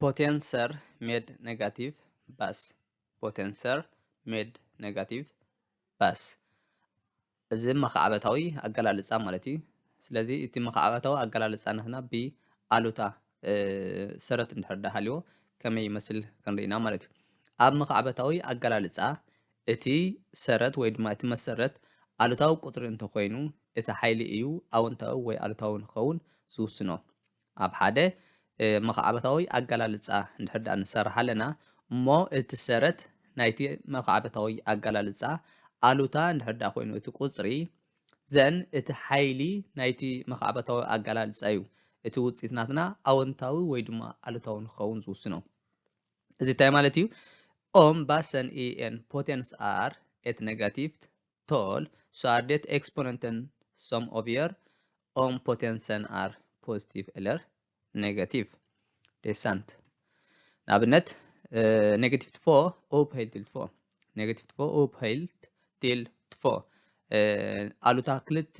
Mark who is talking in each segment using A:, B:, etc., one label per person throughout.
A: ፖቴንሰር ሜድ ኔጋቲቭ ባስ ፖቴንሰር ሜድ ኔጋቲቭ ባስ እዚ መኻዕበታዊ ኣገላልጻ ማለት እዩ። ስለዚ እቲ መኻዕበታዊ ኣገላልጻ ናትና ብ ኣሉታ ሰረት እንድሕር ዳሃልዎ ከመይ ይመስል ክንርኢ ኢና ማለት እዩ። ኣብ መኻዕበታዊ ኣገላልጻ እቲ ሰረት ወይ ድማ እቲ መሰረት ኣሉታዊ ቁጽሪ እንተኾይኑ እቲ ሓይሊ እዩ ኣወንታዊ ወይ ኣሉታዊ ንክኸውን ዝውስኖ። ኣብ ሓደ መኻዕበታዊ ኣገላልጻ እንድሕር ደኣ ንሰርሕ ኣለና እሞ እቲ ሰረት ናይቲ መኻዕበታዊ ኣገላልጻ ኣሉታ እንድሕር ደኣ ኮይኑ እቲ ቁጽሪ ዘን እቲ ሓይሊ ናይቲ መኻዕበታዊ ኣገላልጻ እዩ እቲ ውጽኢት ናትና ኣወንታዊ ወይ ድማ ኣሉታዊ ንክኸውን ዝውስኖ እዚ እንታይ ማለት እዩ ኦም ባሰን ኢኤን ፖቴንስ ኣር ኤት ኔጋቲቭት ቶል ሷርዴት ኤክስፖነንተን ሶም ኦብየር ኦም ፖቴንሰን ኣር ፖዚቲቭ ኤለር ኔጋቲቭ ዴሳንት ንኣብነት ኔጋቲቭ ትፎ ኦፕ ሀይል ትል ትፎ ኔጋቲቭ ትፎ ኦፕ ሀይል ትል ትፎ ኣሉታ ክልተ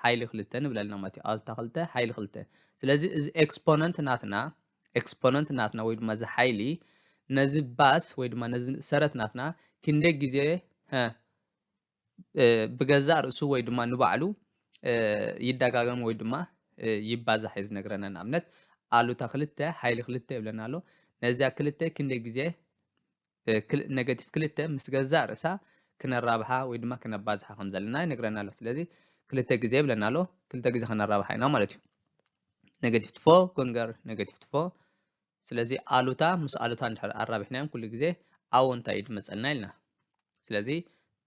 A: ሓይሊ ክልተ ንብል ኣለና ማለት እዩ ኣሉታ ክልተ ሓይሊ ክልተ ስለዚ እዚ ኤክስፖነንት ናትና ኤክስፖነንት ናትና ወይ ድማ እዚ ሓይሊ ነዚ ባስ ወይ ድማ ነዚ ሰረት ናትና ክንደይ ግዜ ብገዛእ ርእሱ ወይ ድማ ንባዕሉ ይደጋገም ወይ ድማ ይባዛሕ እዩ ዝነግረና ንኣብነት ኣሉታ ክልተ ሓይሊ ክልተ ይብለና ኣሎ ነዚያ ክልተ ክንደይ ግዜ ነገቲቭ ክልተ ምስ ገዛእ ርእሳ ክነራብሓ ወይ ድማ ክነባዝሓ ከም ዘለና ይነግረና ኣሎ ስለዚ ክልተ ግዜ ይብለና ኣሎ ክልተ ግዜ ከነራብሓ ኢና ማለት እዩ ነገቲቭ ትፎ ኮንገር ነገቲቭ ትፎ ስለዚ ኣሉታ ምስ ኣሉታ እንድሕር ኣራቢሕናዮም ኩሉ ግዜ ኣወንታ እዩ ዝመጸልና ኢልና። ስለዚ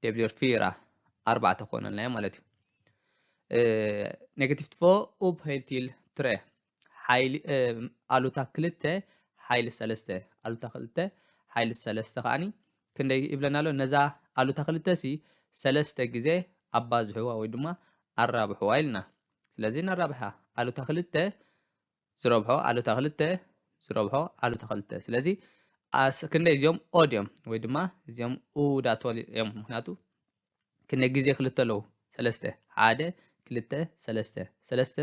A: ደብሊር ፊራ ኣርባዕተ ኮነልናዮ ማለት እዩ። ኔጋቲቭ ትፎ ኡብ ሄልቲል ትረ ሓይሊ ኣሉታ ክልተ ሓይሊ ሰለስተ ኣሉታ ክልተ ሓይሊ ሰለስተ ከዓኒ ክንደይ ይብለና ኣሎ ነዛ ኣሉታ ክልተ ሲ ሰለስተ ግዜ ኣባዝሕዋ ወይ ድማ ኣራብሕዋ ኢልና ስለዚ ነራብሓ ኣሉታ ክልተ ዝረብሖ ኣሉታ ክልተ ዝረብሖ ኣሉታ ክልተ ስለዚ ኣስ ክንደይ እዚኦም ኦድ እዮም ወይ ድማ እዚኦም ኡዳት እዮም ምክንያቱ ክንደይ ግዜ ክልተ ኣለዉ ሰለስተ ሓደ ክልተ ሰለስተ ሰለስተ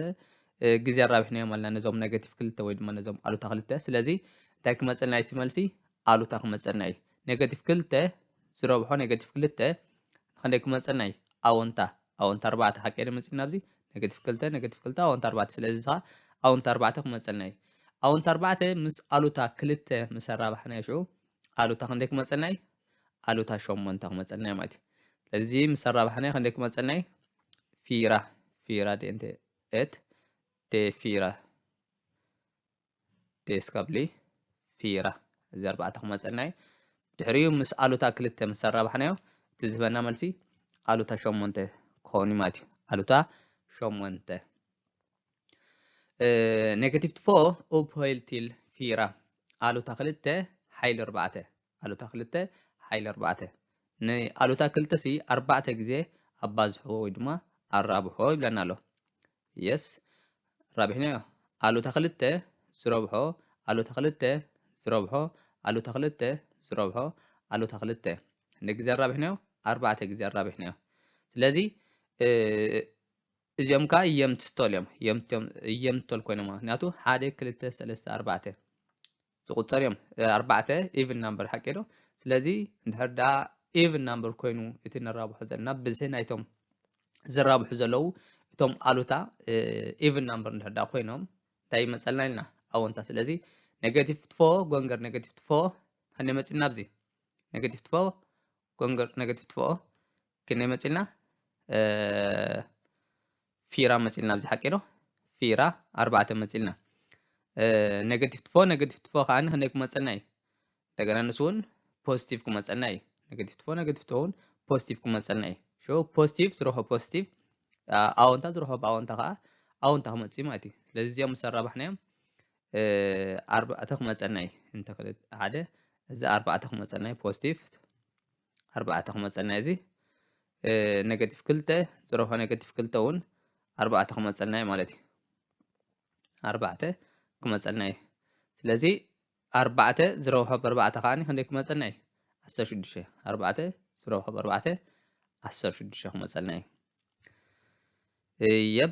A: ግዜ ኣራቢሕናዮም ኣለና ነዞም ኔጋቲቭ ክልተ ወይ ድማ ነዞም ኣሉታ ክልተ ስለዚ እንታይ ክመፀልና እቲ መልሲ ኣሉታ ክመፀልና እዩ ኔጋቲቭ ክልተ ዝረብሖ ኔጋቲቭ ክልተ ንክንደይ ክመፀልና እዩ ኣወንታ ኣወንታ ኣርባዕተ ሓቀይ ዶ መጺእና ኣብዚ ነገቲቭ ክልተ ነገቲቭ ክልተ ኣወንታ ኣርባዕተ ስለዚ ኸኣ ኣወንታ ኣርባዕተ ክመጸልና እዩ ኣወንታ ኣርባዕተ ምስ ኣሉታ ክልተ ምስ ኣራባሕናዮ ሽዑ ኣሉታ ክንደይ ክመጸልና እዩ ኣሉታ ሸሞንተ ክመጸልና እዩ ማለት እዩ ስለዚ ምስ ኣራባሕናዮ ክንደይ ክመጸልና እዩ ፊራ ፊራ ዴንቴ ኤት ዴ ፊራ ዴስ ቀብሊ ፊራ እዚ ኣርባዕተ ክመፀልና እዩ ድሕሪኡ ምስ ኣሉታ ክልተ ምስ ኣራባሕናዮ እቲ ዝህበና መልሲ ኣሉታ ሸሞንተ ክኸውን እዩ ማለት እዩ ኣሉታ ሸሞንተ ኔጋቲቭ ትፎ ኡፕ ሆይል ቲል ፊራ ኣሉታ ክልተ ሓይሊ ኣርባዕተ ኣሉታ ክልተ ሓይሊ ኣርባዕተ። ንኣሉታ ክልተሲ ኣርባዕተ ግዜ ኣባዝሕዎ ወይ ድማ ኣራብሖ ይብለና ኣሎ። Yes ኣራቢሕናዮ። ኣሉታ ክልተ ዝረብሖ ኣሉታ ክልተ ዝረብሖ ኣሉታ ክልተ ዝረብሖ ኣሉታ ክልተ ንግዜ ኣራቢሕናዮ ኣርባዕተ ግዜ ኣራቢሕናዮ። ስለዚ እዚኦም ከዓ የምትቶል እዮም የምቶል ኮይኖም ምክንያቱ ሓደ ክልተ ሰለስተ ኣርባዕተ ዝቁጸር እዮም ኣርባዕተ ኢቭን ናምበር ሓቂ ዶ ስለዚ እንድሕር ደኣ ኢቭን ናምበር ኮይኑ እቲ ንራብሖ ዘለና ብዝሒ ናይቶም ዝራብሑ ዘለዉ እቶም ኣሉታ ኢቭን ናምበር እንድሕር ደኣ ኮይኖም እንታይ ይመፀልና ኢልና ኣወንታ ስለዚ ኔጋቲቭ ትፎ ጎንገር ኔጋቲቭ ትፎ ኣነ መፅና ኣብዚ ኔጋቲቭ ትፎ ጎንገር ኔጋቲቭ ትፎ ክንደይ መፅልና ፊራ መጺልና ኣብዚ ሓቂ ዶ ፊራ ኣርባዕተ መጺልና ኔጋቲቭ ትፎ ኔጋቲቭ ትፎ ከዓኒ ክንደይ ክመጸልና እዩ እንደገና ንሱ እውን ፖዚቲቭ ክመጸልና እዩ ኔጋቲቭ ትፎ ኔጋቲቭ ትፎ እውን ፖዚቲቭ ክመጸልና እዩ ሾ ፖዚቲቭ ዝረኽቦ ፖዚቲቭ ኣወንታ ዝረኽቦ ብኣወንታ ከዓ ኣወንታ ክመጽ እዩ ማለት እዩ ስለዚ እዚኦም ምስ ኣራባሕናዮም ኣርባዕተ ክመጸልና እዩ እንተ ሓደ እዚ ኣርባዕተ ክመጸልና እዩ ፖዚቲቭ ኣርባዕተ ክመፀልና እዩ እዚ ኔጋቲቭ ክልተ ዝሮ ካብ ኔጋቲቭ ክልተ እውን ኣርባዕተ ክመፀልና እዩ ማለት እዩ ኣርባዕተ ክመፀልና እዩ ስለዚ ኣርባዕተ ዝሮ ካብ ኣርባዕተ ከዓኒ ክንደይ ክመፀልና እዩ ዓሰርተ ሽዱሽተ ኣርባዕተ ዝሮ ካብ ኣርባዕተ ዓሰርተ ሽዱሽተ ክመፀልና እዩ የብ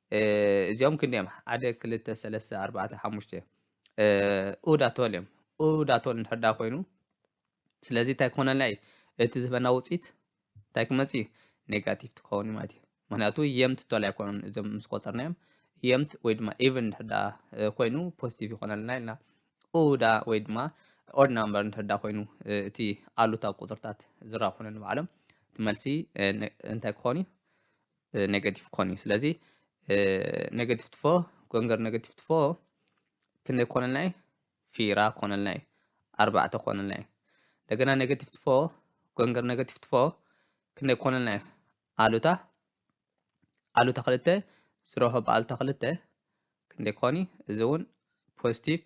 A: እዚኦም ክንደዮም ሓደ ክልተ ሰለስተ ኣርባዕተ ሓሙሽተ ኡድ ኣቶል እዮም ኡድ ኣቶል እንድሕር ዳ ኮይኑ ስለዚ እንታይ ክኾነልና እዩ እቲ ዝህበና ውፅኢት እንታይ ክመፅ እዩ ኔጋቲቭ ትኸውን እዩ ማለት እዩ ምክንያቱ የምት ቶል ኣይኮኑን እዞም ምስ ቆፀርናዮም የምት ወይ ድማ ኢቨን እንድሕር ዳ ኮይኑ ፖዚቲቭ ይኾነልና ኢልና ኡዳ ወይ ድማ ኦድ ናምበር እንድሕር ዳ ኮይኑ እቲ ኣሉታዊ ቁፅርታት ዝራብሑነ ንባዕሎም እቲ መልሲ እንታይ ክኾን እዩ ኔጋቲቭ ክኾን እዩ ስለዚ ኔጋቲቭ ትፎ ጎንገር ኔጋቲቭ ትፎ ክንደይ ክኾነልና እዩ ፊራ ክኾነልና እዩ ኣርባዕተ ክኾነልና እዩ እንደገና ኔጋቲቭ ትፎ ጎንገር ኔጋቲቭ ትፎ ክንደይ ክኾነልና እዩ ኣሉታ ኣሉታ ክልተ ዝረሆ ብኣሉታ ክልተ ክንደይ ክኾን እዩ እዚ እውን ፖዚቲቭ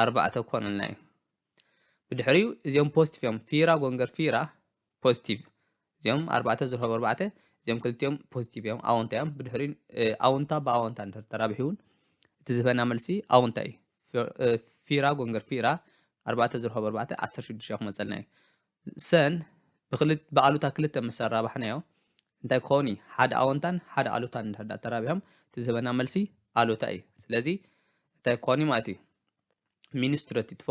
A: ኣርባዕተ ክኾነልና እዩ ብድሕሪኡ እዚኦም ፖዚቲቭ እዮም ፊራ ጎንገር ፊራ ፖዚቲቭ እዚኦም ኣርባዕተ ዝርሆብ ኣርባዕተ እዚኦም ክልቲኦም ፖዚቲቭ እዮም ኣወንታ እዮም ብድሕሪ ኣወንታ ብኣወንታ እንድሕር ተራቢሑውን እቲ ዝህበና መልሲ ኣወንታ እዩ ፊራ ጎንገር ፊራ ኣርባዕተ ዝርሆብ ኣርባዕተ ዓሰርተ ሽዱሽተ ክመፀልና እዩ ሰን ብኣሉታ ክልተ ምስ ኣራባሕናዮ እንታይ ክኸውን እዩ ሓደ ኣወንታን ሓደ ኣሉታን እንድሕር ዳ ተራቢሖም እቲ ዝህበና መልሲ ኣሉታ እዩ ስለዚ እንታይ ክኾን እዩ ማለት እዩ ሚኒስትረቲ ትፎ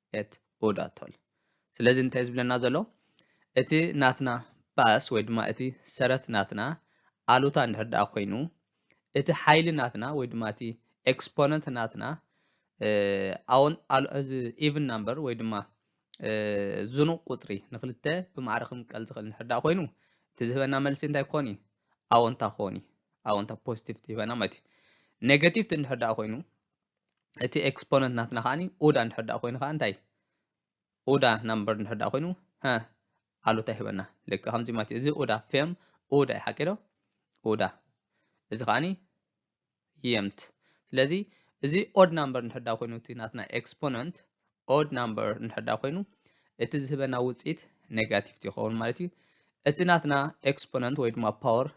A: ኤት ኡዳቶል ስለዚ እንታይ ዝብለና ዘሎ እቲ ናትና ባስ ወይ ድማ እቲ ሰረት ናትና ኣሉታ እንድሕር ደኣ ኮይኑ እቲ ሓይሊ ናትና ወይ ድማ እቲ ኤክስፖነንት ናትና ኣዎን እዚ ኢቭን ናምበር ወይ ድማ ዝኑቕ ቁፅሪ ንክልተ ብማዕረ ክምቀል ዝኽእል እንድሕር ደኣ ኮይኑ እቲ ዝህበና መልሲ እንታይ ክኾን እዩ ኣዎንታ ክኾን እዩ ኣዎንታ ፖዚቲቭ ትህበና ማለት እዩ ኔጋቲቭ እንድሕር ደኣ ኮይኑ እቲ ኤክስፖነንት ናትና ከዓኒ ኡዳ እንድሕር ደኣ ኮይኑ ከዓ እንታይ ኡዳ ናምበር እንድሕር ደኣ ኮይኑ ሀ ኣሉታ ይህበና ልክ ከምዚ ማለት እዩ እዚ ኡዳ ፌም ኡዳ እዩ ሓቂ ዶ ኡዳ እዚ ከዓኒ የምት ስለዚ እዚ ኦድ ናምበር እንድሕር ደኣ ኮይኑ እቲ ናትና ኤክስፖነንት ኦድ ናምበር እንድሕር ደኣ ኮይኑ እቲ ዝህበና ውፅኢት ኔጋቲቭ ይኸውን ማለት እዩ እቲ ናትና ኤክስፖነንት ወይ ድማ ፓወር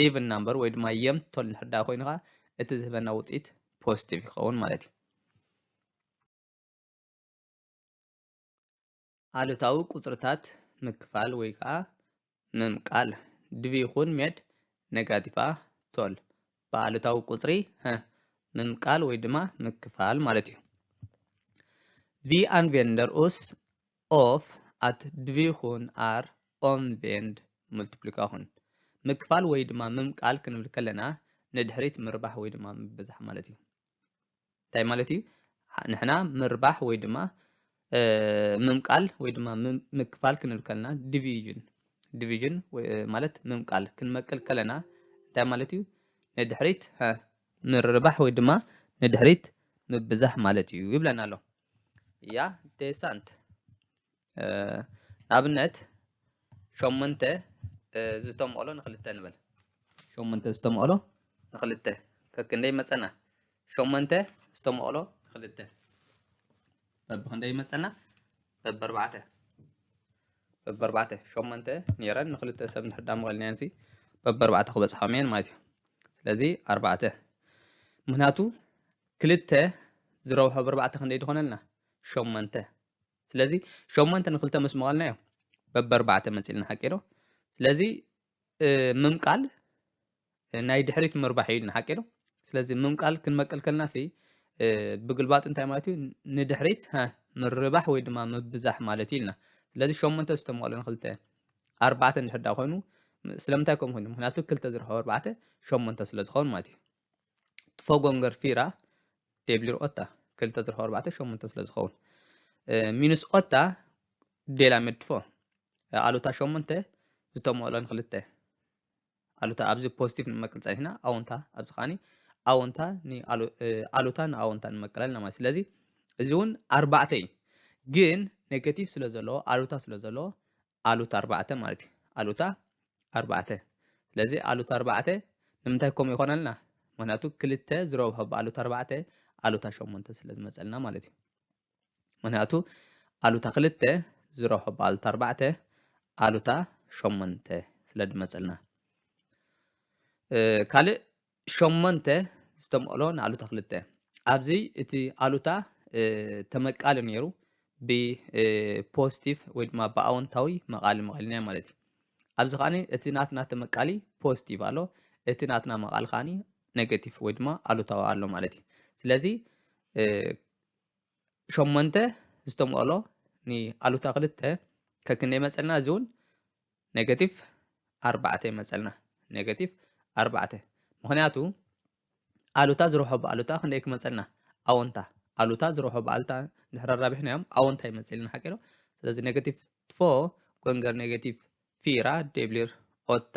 A: ኢቭን ናምበር ወይ ድማ የም ቶል እንድሕር ደኣ ኮይኑ ከዓ እቲ ዝህበና ውፅኢት ፖዚቲቭ ይኸውን ማለት እዩ። ኣሉታዊ ቁፅርታት ምክፋል ወይ ከዓ ምምቃል ድቪ ይኹን ሜድ ኔጋቲቫ ቶል ብኣሉታዊ ቁፅሪ ምምቃል ወይ ድማ ምክፋል ማለት እዩ። ቪ ኣን ቬንደር ኡስ of at dvykun är omvänd multiplikation ምክፋል ወይ ድማ ምምቃል ክንብል ከለና ንድሕሪት ምርባሕ ወይ ድማ ምብዛሕ ማለት እዩ። እንታይ ማለት እዩ? ንሕና ምርባሕ ወይ ድማ ምምቃል ወይ ድማ ምክፋል ክንብል ከለና ዲቪዥን ዲቪዥን ማለት ምምቃል ክንመቅል ከለና እንታይ ማለት እዩ ንድሕሪት ምርባሕ ወይ ድማ ንድሕሪት ምብዛሕ ማለት እዩ ይብለና ኣሎ እያ ዴሳንት ንኣብነት ሸሞንተ ዝተምቕሎ ንክልተ ንበል ሸሞንተ ዝተምቕሎ ንክልተ ከክንደይ መፀና ሸሞንተ ዝተምቕሎ ንክልተ በብክንደይ መፀና በብኣርባዕተ በብኣርባዕተ ሸሞንተ ነይረን ንክልተ ሰብ እንድሕር ዳመቐልናየን ሲ በብኣርባዕተ ክበፅሖም እየን ማለት እዩ ስለዚ ኣርባዕተ ምክንያቱ ክልተ ዝረብሖ ብርባዕተ ክንደይ ድኾነልና? ሸሞንተ። ስለዚ ሸሞንተ ንክልተ ምስ መቐልናዮ በበርባዕተ መፂልና ሓቂ ዶ? ስለዚ ምምቃል ናይ ድሕሪት ምርባሕ እዩ ኢልና ሓቂ ዶ? ስለዚ ምምቃል ክንመቅል ከልና ሲ ብግልባጡ እንታይ ማለት እዩ? ንድሕሪት ምርባሕ ወይ ድማ ምብዛሕ ማለት እዩ ኢልና። ስለዚ ሸሞንተ ዝተመቐለ ንክልተ ኣርባዕተ እንድሕር ዳ ኮይኑ ስለምንታይ ከምኡ ኮይኑ? ምክንያቱ ክልተ ዝረኸበ ኣርባዕተ ሸሞንተ ስለዝኸውን ማለት እዩ። ትፎጎንገር ፊራ ደብሊር ኦታ ክልተ ዝርሖ ኣርባዕተ ሸሙንተ ስለ ዝኸውን ሚንስ ኦታ ዴላ መድፎ ኣሉታ ሸሙንተ ዝተመኦሎን ክልተ ኣሉታ ኣብዚ ፖዚቲቭ ንመቅል ፀኒሕና ኣዎንታ ኣብዚ ከዓኒ ኣዎንታ ኣሉታ ንኣዎንታ ንመቅል ኣለና ማለት ስለዚ እዚ እውን ኣርባዕተ እዩ ግን ኔጋቲቭ ስለ ዘለዎ ኣሉታ ስለ ዘለዎ ኣሉታ ኣርባዕተ ማለት እዩ ኣሉታ ኣርባዕተ ስለዚ ኣሉታ ኣርባዕተ ንምንታይ ከምኡ ይኾነልና ምክንያቱ ክልተ ዝረብሖ ብኣሉታ ኣርባዕተ ኣሉታ ሸሞንተ ስለ ዝመፀልና ማለት እዩ ምክንያቱ ኣሉታ ክልተ ዝረብሖ ብኣሉታ ኣርባዕተ ኣሉታ ሸሞንተ ስለ ዝመፀልና ካልእ ሸሞንተ ዝተመቕሎ ንኣሉታ ክልተ። ኣብዚ እቲ ኣሉታ ተመቃሊ ነይሩ ብፖስቲቭ ወይ ድማ ብኣወንታዊ መቓሊ መቐልናዮ ማለት እዩ። ኣብዚ ከዓኒ እቲ ናትና ተመቃሊ ፖስቲቭ ኣሎ፣ እቲ ናትና መቓሊ ከዓኒ ኔጌቲቭ ወይ ድማ ኣሉታዊ ኣሎ ማለት እዩ። ስለዚ ሸሞንተ ዝተመቕሎ ንኣሉታ ክልተ ከክንደይ መፀልና እዚ እውን ኔጋቲቭ ኣርባዕተ ይመፀልና ኔጋቲቭ ኣርባዕተ ምክንያቱ ኣሉታ ዝረብሖ ብኣሉታ ክንደይ ክመፀልና ኣወንታ ኣሉታ ዝረብሖ ብኣሉታ ድሕሪ ኣራቢሕና እዮም ኣወንታ ይመፅልና ሓቂ ዶ ስለዚ ኔጋቲቭ ፎ ጎንገር ኔጋቲቭ ፊራ ደብሊር ኦታ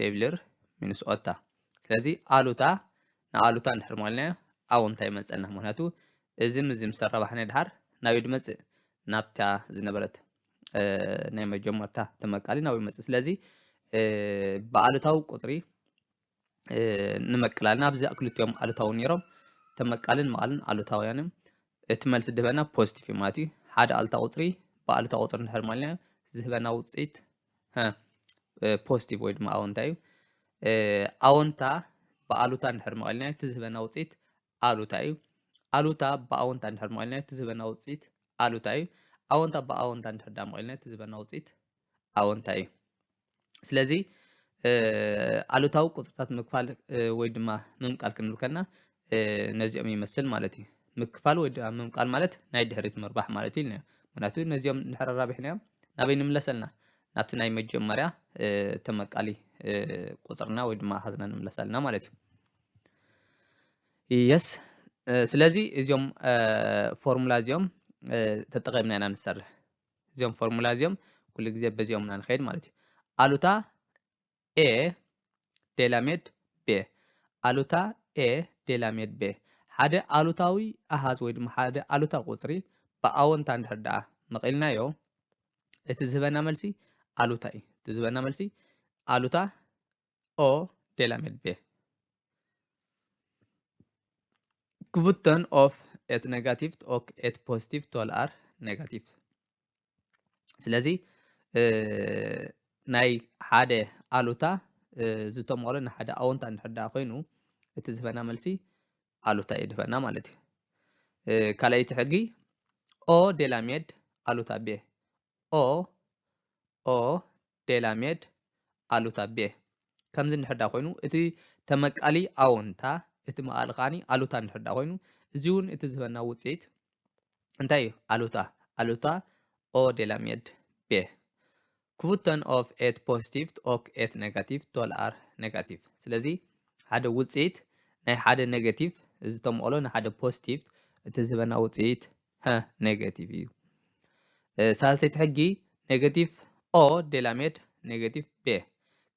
A: ዴቪልር ሚኒስኦታ ስለዚ ኣሉታ ንኣሉታ እንድሕር ሞልናዮ ኣውንታ ይመጸልና ምክንያቱ እዚ ምዚ ምስ ኣራባሕናዮ ድሓር ናብይ ድመጽእ ናብታ ዝነበረት ናይ መጀመርታ ተመቃሊ ናብይ መጽእ ስለዚ ብኣሉታዊ ቁጽሪ ንመቅላልና ኣብዚ ክልቲኦም ኣሉታዊ ነይሮም ተመቃልን መቃልን ኣሉታውያን እዮም እቲ መልሲ ድህበና ፖዚቲቭ እዩ ማለት እዩ ሓደ ኣሉታ ቁፅሪ ብኣሉታ ቁፅሪ እንድሕር ማልና ዝህበና ውፅኢት ፖዚቲቭ ወይ ድማ ኣወንታ እዩ ኣወንታ ብኣሉታ እንድሕር መቐልና እቲ ዝህበና ውፅኢት ኣሉታ እዩ ኣሉታ ብኣወንታ እንድሕር መቐልና እቲ ዝህበና ውፅኢት ኣሉታ እዩ ኣወንታ ብኣወንታ እንድሕር ዳ መቐልና እቲ ዝህበና ውፅኢት ኣወንታ እዩ ስለዚ ኣሉታዊ ቁፅርታት ምክፋል ወይ ድማ ምምቃል ክንብል ከና ነዚኦም ይመስል ማለት እዩ። ምክፋል ወይ ድማ ምምቃል ማለት ናይ ድሕሪት ምርባሕ ማለት እዩ ኢልና ምክንያቱ ነዚኦም ድሕሪ ኣራቢሕናዮም ናበይ ንምለስ ኣልና ናብቲ ናይ መጀመርያ ተመቃሊ ቁፅርና ወይ ድማ ሃዝና ንምለስ ኣልና ማለት እዩ የስ ስለዚ እዚኦም ፎርሙላ እዚኦም ተጠቂምና ኢና ንሰርሕ እዚኦም ፎርሙላ እዚኦም ኩሉ ግዜ በዚኦም ኢና ንኸይድ ማለት እዩ ኣሉታ a ዴላሜድ ቤ ኣሉታ a ዴላሜድ ቤ ሓደ ኣሉታዊ ኣሃዝ ወይ ድማ ሓደ ኣሉታ ቁፅሪ ብኣወንታ እንድሕር ደኣ መቒልናዮ እቲ ዝህበና መልሲ ኣሉታ እዩ። እቲ ዝህበና መልሲ ኣሉታ o ዴላሜድ ቤ ክቡተን ኦፍ ኤት ነጋቲቭት ኦክ ኤት ፖዚቲቭ ቶል ኣር ነጋቲቭ ስለዚ ናይ ሓደ ኣሉታ ዝተመቕሎ ንሓደ ኣወንታ እንድሕር ደኣ ኮይኑ እቲ ዝህበና መልሲ ኣሉታ እዩ ዝህበና ማለት እዩ ካልኣይቲ ሕጊ ኦ ዴላሜድ ኣሉታ ቤ ኦ ኦ ዴላሜድ ኣሉታ ቤህ ከምዚ እንድሕር ድኣ ኮይኑ እቲ ተመቃሊ ኣዎንታ እቲ መቃሊ ከኣ ኣሉታ እንድሕር ድኣ ኮይኑ እዚ እውን እቲ ዝህበና ውጽኢት እንታይ እዩ ኣሉታ ኣሉታ ኦ ዴላሜድ ቤህ ክቡተን ኦፍ ኤት ፖዚቲቭት ኦክ ኤት ኔጋቲቭ ቶል ኣር ኔጋቲቭ ስለዚ ሓደ ውጽኢት ናይ ሓደ ኔጋቲቭ እዚ ተመቕሎ ንሓደ ፖዚቲቭ እቲ ዝህበና ውጽኢት ሀ ኔጋቲቭ እዩ። ሳልሰይቲ ሕጊ ኔጋቲቭ ኦ ዴላሜድ ኔጋቲቭ ቤ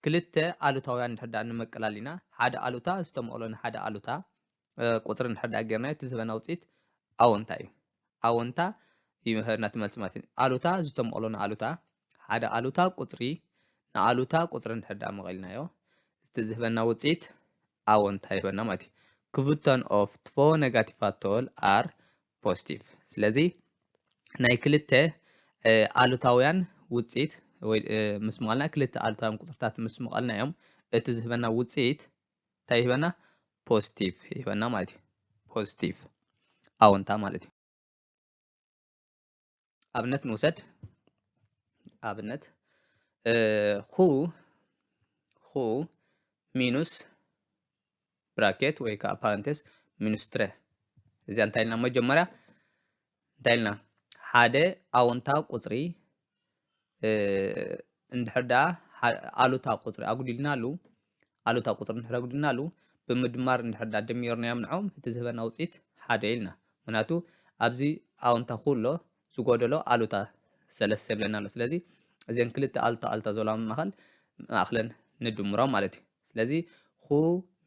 A: ክልተ ኣሉታውያን እንድሕር ደኣ ንመቀላሊና ሓደ ኣሉታ ዝተመቕሎ ንሓደ ኣሉታ ቁፅሪ እንድሕር ደኣ ጌርና እቲ ዝህበና ውፅኢት ኣወንታ እዩ። ኣወንታ ይምህርና እቲ መልሲ ማለት እዩ። ኣሉታ ዝተመቕሎ ንኣሉታ ሓደ ኣሉታ ቁፅሪ ንኣሉታ ቁፅሪ እንድሕር ደኣ መቒልናዮ እቲ ዝህበና ውፅኢት ኣወንታ ይህበና ማለት እዩ። ክቭቶን ኦፍ ትቮ ነጋቲቫት ቶል ኣር ፖስቲቭ ስለዚ ናይ ክልተ ኣሉታውያን ውፅኢት ወይ ምስ ምቓልና ክልተ ኣሉታውያን ቁፅርታት ምስ ምቓልና እዮም እቲ ዝህበና ውፅኢት እንታይ ይህበና ፖስቲቭ ይህበና ማለት እዩ ፖስቲቭ ኣወንታ ማለት እዩ። ኣብነት ንውሰድ ኣብነት ኹ ኹ ሚኑስ ብራኬት ወይ ከዓ ፓረንቴስ ሚኑስ ትረ እዚኣ እንታይ ኢልና መጀመርያ እንታይ ኢልና ሓደ ኣወንታ ቁፅሪ እንድሕር ደኣ ኣሉታ ቁፅሪ ኣጉዲልናሉ ኣሉታ ቁፅሪ እንድሕር ኣጉዲልናሉ ብምድማር እንድሕር ደኣ ደሚርናዮም ንዖም እቲ ዝህበና ውፅኢት ሓደ ኢልና ምክንያቱ ኣብዚ ኣውንታ ኩሎ ዝጎደሎ ኣሉታ ሰለስተ ይብለና ኣሎ ስለዚ እዘን ክልተ ኣሉታ ኣሉታ ዘለዋ መማኸል ማእክለን ንድምሮ ማለት እዩ ስለዚ ኹ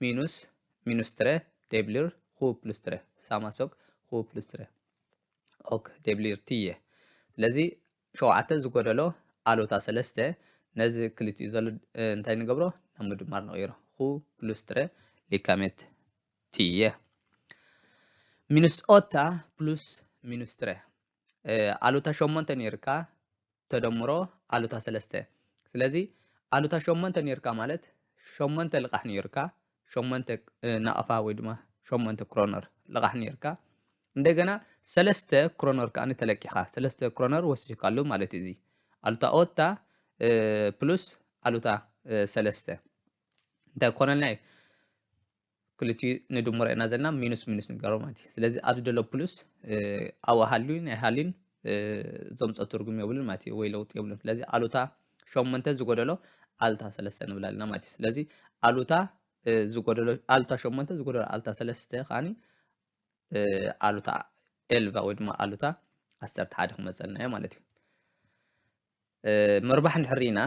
A: ሚኑስ ሚኑስ ትረ ደብሊር ኹ ፕሉስ ትረ ሳማሶክ ኹ ፕሉስ ትረ ኦክ ደብሊር ትየ ስለዚ ሸውዓተ ዝጎደሎ ኣሉታ ሰለስተ ነዚ ክልቲኡ ዘሎ እንታይ ንገብሮ ናብ ምድማር ንቕይሮ ኹ ፕሉስ ትረ ሊካሜት ትየ ሚኑስ ኦታ ፕሉስ ሚኑስ ትረ ኣሉታ ሸሞንተ ነይርካ ተደምሮ ኣሉታ ሰለስተ ስለዚ ኣሉታ ሸሞንተ ነይርካ ማለት ሸሞንተ ልቓሕ ነይርካ ሸሞንተ ናቕፋ ወይ ድማ ሸሞንተ ክሮነር ልቓሕ ነይርካ እንደገና ሰለስተ ክሮነር ከዓኒ ተለቂኻ ሰለስተ ክሮነር ወሲድካሉ ማለት እዩ እዚ ኣሉታ ኦታ ፕሉስ ኣሉታ ሰለስተ እንታይ ክኾነልና እዩ ክልቲኡ ንድምሮ ኢና ዘለና ሚኑስ ሚኑስ ንገሮ ማለት እዩ ስለዚ ኣብዚ ዘሎ ፕሉስ ኣብኡ ሃልዩ ናይ ሃልዩን ዘምፅኦ ትርጉም የብሉን ማለት እዩ ወይ ለውጢ የብሉን ስለዚ ኣሉታ ሸሞንተ ዝጎደሎ ኣሉታ ሰለስተ ንብል ኣለና ማለት እዩ ስለዚ ኣሉታ ዝጎደሎ ኣሉታ ሸሞንተ ዝጎደሎ ኣሉታ ሰለስተ ከዓኒ ኣሉታ ኤልቫ ወይ ድማ ኣሉታ ዓሰርተ ሓደ ክመፀልና እዩ ማለት እዩ ምርባሕ እንድሕር ኢና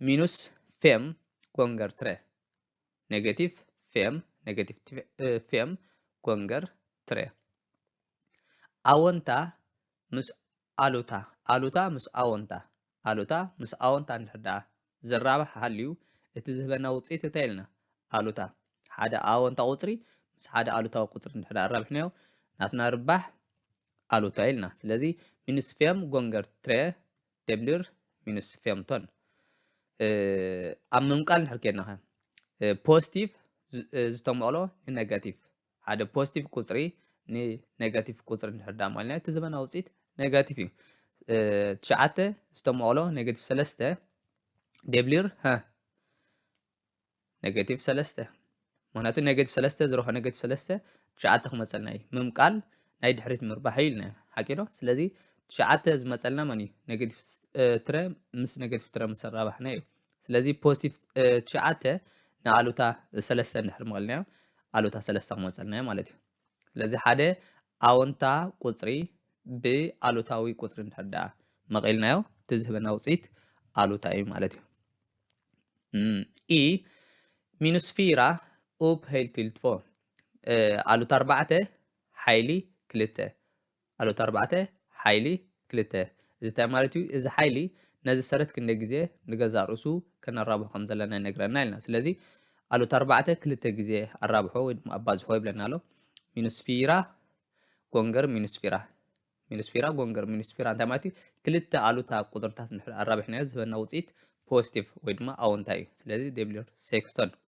A: ሚኑስ ፌም ኮንገር ትረ ኔጋቲቭ ፌም፣ ኔጋቲቭ ፌም ጎንገር ትሬ። ኣወንታ ምስ ኣሉታ፣ ኣሉታ ምስ ኣወንታ፣ ኣሉታ ምስ ኣወንታ እንድሕር ደኣ ዝራባሕ ሃልዩ እቲ ዝህበና ውጽኢት እንታይ ኢልና ኣሉታ ሓደ ኣወንታ ቁጽሪ ምስ ሓደ ኣሉታዊ ቁጽሪ እንድሕር ደኣ ኣራቢሕናዮ ናትና ርባሕ ኣሉታ ኢልና። ስለዚ ሚንስ ፌም ጎንገር ትሬ ደብሊር ሚንስ ፌምቶን ኣብ ምምቃል ንድሕር ኬድና ከ ፖስቲቭ ዝተመቕሎ ንነጋቲቭ ሓደ ፖስቲቭ ቁፅሪ ንነጋቲቭ ቁፅሪ ንድሕር ዳ ማልና እቲ ዘበና ውፅኢት ነጋቲቭ እዩ ትሽዓተ ዝተመቕሎ ኔጋቲቭ ሰለስተ ደብሊር ኔጌቲቭ ሰለስተ ምክንያቱ ኔጌቲቭ ሰለስተ ዝሮ ከኔጌቲቭ ሰለስተ ትሽዓተ ክመፀልና እዩ ምምቃል ናይ ድሕሪት ምርባሕ እዩ ኢልና ሓቂ ዶ ስለዚ ትሽዓተ ዝመፀልና መን እዩ ኔጌቲቭ ትረ ምስ ኔጌቲቭ ትረ ምስ ኣራባሕና እዩ ስለዚ ፖዚቲቭ ትሽዓተ ንኣሉታ ሰለስተ እንድሕር ምቐልናዮ ኣሉታ ሰለስተ ክመፀልና እዩ ማለት እዩ ስለዚ ሓደ ኣወንታ ቁፅሪ ብኣሉታዊ ቁፅሪ እንድሕር ደኣ መቒልናዮ እቲ ዝህበና ውፅኢት ኣሉታ እዩ ማለት እዩ ኢ ሚኑስፊራ ኡብ ሀይልቲልትፎ ኣሉት ኣርባዕተ ሓይሊ ክልተ ኣሉት ኣርባዕተ ሓይሊ ክልተ እዚ እንታይ ማለት እዩ? እዚ ሓይሊ ነዚ ሰረት ክንደይ ግዜ ንገዛ ርእሱ ከነራብሖ ከም ዘለና ይነግረና ኢልና ስለዚ ኣሉት ኣርባዕተ ክልተ ግዜ ኣራብሖ ወይ ድማ ኣባዝሖ ይብለና ኣሎ ሚኑስፊራ ጎንገር ሚኑስፊራ ሚኒስፊራ ጎንገር ሚኒስፊራ እንታይ ማለት እዩ ክልተ ኣሉታ ቁፅርታት እንድሕር ኣራቢሕናዮ ዝህበና ውፅኢት ፖዚቲቭ ወይ ድማ ኣወንታ እዩ ስለዚ ዴብሊር ሴክስቶን